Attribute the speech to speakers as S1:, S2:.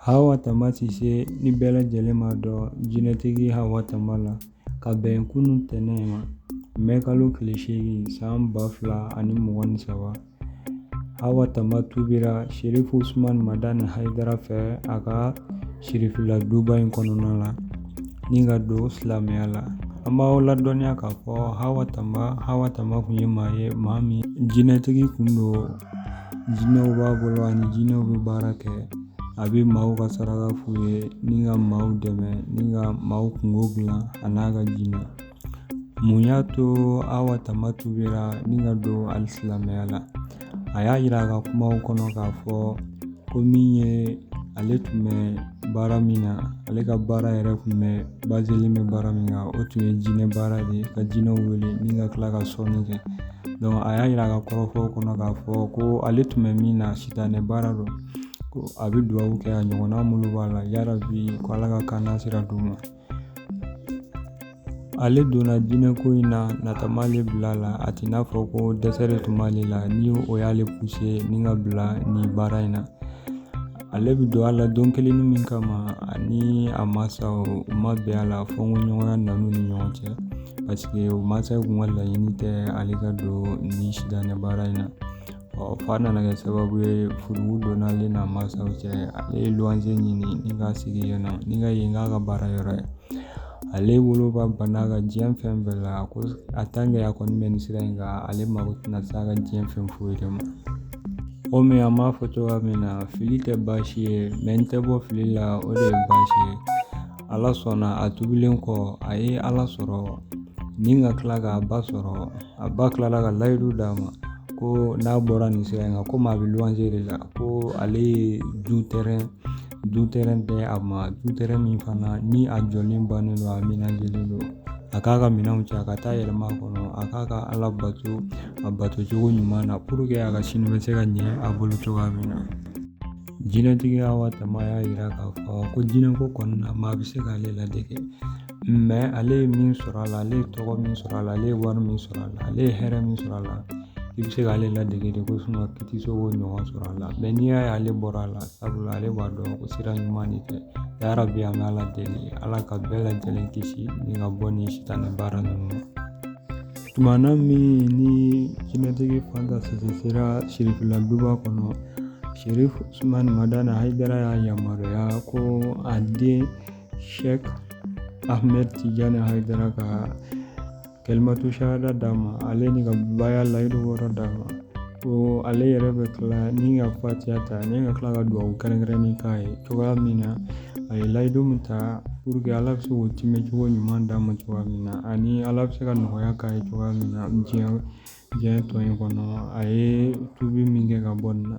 S1: Hawa tama sise ni bɛɛ lajɛlen m'a dɔn jinɛtigi hawa tama la ka bɛn kunun tɛnɛn ma mɛ kalo tile seegin san ba fila ani mugan ni saba hawa tama tubira serifu usumani madani hayidara fɛ a ka sirifila duba in kɔnɔna la ni ka don silamɛya la an b'aw ladɔnniya k'a fɔ hawa tama hawa tama kun ye maa ye maa min jinɛtigi kun don jinɛw b'a bolo ani jinɛw bɛ baara kɛ a bɛ maaw ka saraka f'u ye ni ka maaw dɛmɛ ni ka maaw kungo dilan a n'a ka jinɛ mun y'a to hawa tama tubira ni ka don alisilamɛya la a y'a yira a ka kumaw kɔnɔ k'a fɔ ko min ye ale tun bɛ baara min na ale ka baara yɛrɛ tun bazelen bɛ baara min kan o tun ye jinɛ baara de ye ka jinɛw wele ni ka tila ka sɔnni kɛ a y'a yira a ka kɔrɔfɔw kɔnɔ k'a fɔ ko ale tun bɛ min na sitanɛ baara don ko a bɛ duwawu kɛ a ɲɔgɔnna minnu b'a la yarabi ko ala ka kanasira d'u ma ale donna jinɛko in na nata m'ale bila la a t'i n'a fɔ ko dɛsɛ de tun b'ale la ni o y'ale puse ni ka bila nin baara in na ale bɛ don a la don kelen min kama ani a mansaw u ma bɛn a la fɔnkɔɲɔgɔnya nana u ni ɲɔgɔn cɛ paseke u mansaw kun ka laɲini tɛ ale ka don ni sitanɛ baara in na ɔ f'a nana kɛ sababu ye furugu donna ale n'a mansaw cɛ ale ye luwanze ɲini ni ka sigi yen nɔ ni ka yen k'a ka baara yɔrɔ ye ale woloba banna a ka diɲɛ fɛn bɛɛ la ko a a kɔni bɛ nin sira in kan ale mako tɛna se a ka diɲɛ fɛn foyi de ma komi an b'a fɔ cogoya min na fili tɛ baasi ye mɛ n tɛ bɔ fili la o de ye baasi ye ala sɔnna a tubilen kɔ a ye ala sɔrɔ ni ka tila k'a ba sɔrɔ a ba tilala ka layidu d'a ma ko n'a bɔra nin sira in kan komi a bɛ luwanze de la ko ale ye du tɛrɛn Du tɛrɛn tɛ a ma du tɛrɛn min fana ni a jɔlen bannen don a amenazelen don a k'a ka minɛnw cɛ a ka taa yɛlɛma a kɔnɔ a k'a ka ala bato a bato cogo ɲuman na puru ke a ka sini bɛ se ka ɲɛ a bolo cogoya min na jinɛtigi hawa tama y'a jira k'a fɔ ko jinɛko kɔnɔna na maa bɛ se k'ale ladege mɛ ale ye min sɔrɔ a la ale ye tɔgɔ min sɔrɔ a la ale ye wari min sɔrɔ a la ale ye hɛrɛ min sɔrɔ a la i bɛ se k'ale ladege de ko suma i tɛ se k'o ɲɔgɔn sɔrɔ a la mɛ n'i y'a ye ale bɔra a la sabula ale b'a dɔn ko sira ɲuman de tɛ yarabi an bɛ ala deli ala ka bɛɛ lajɛlen kisi ni ka bɔ ni sitanɛ baara ninnu ma tumana min ni jinɛtigi fanta sise sera sirifila duba kɔnɔ serifu usumani madani hayidara y'a yamaruya ko a den sheek ahmed tijani haydara ka kalimatu shahada d'a ma ale ni ka baya layidu wɔɔrɔ d'a ma ko ale yɛrɛ bɛ tila ni ka fatiya ta ni ka tila ka dugawu kɛrɛnkɛrɛnnen k'a ye cogoya min na a ye layidu min ta pour que ala bɛ se k'o timɛ cogo ɲuman d'a ma cogoya min na ani ala bɛ se ka nɔgɔya k'a ye cogoya min na diɲɛ diɲɛ tɔ in kɔnɔ a ye tubi min kɛ ka bɔ nin na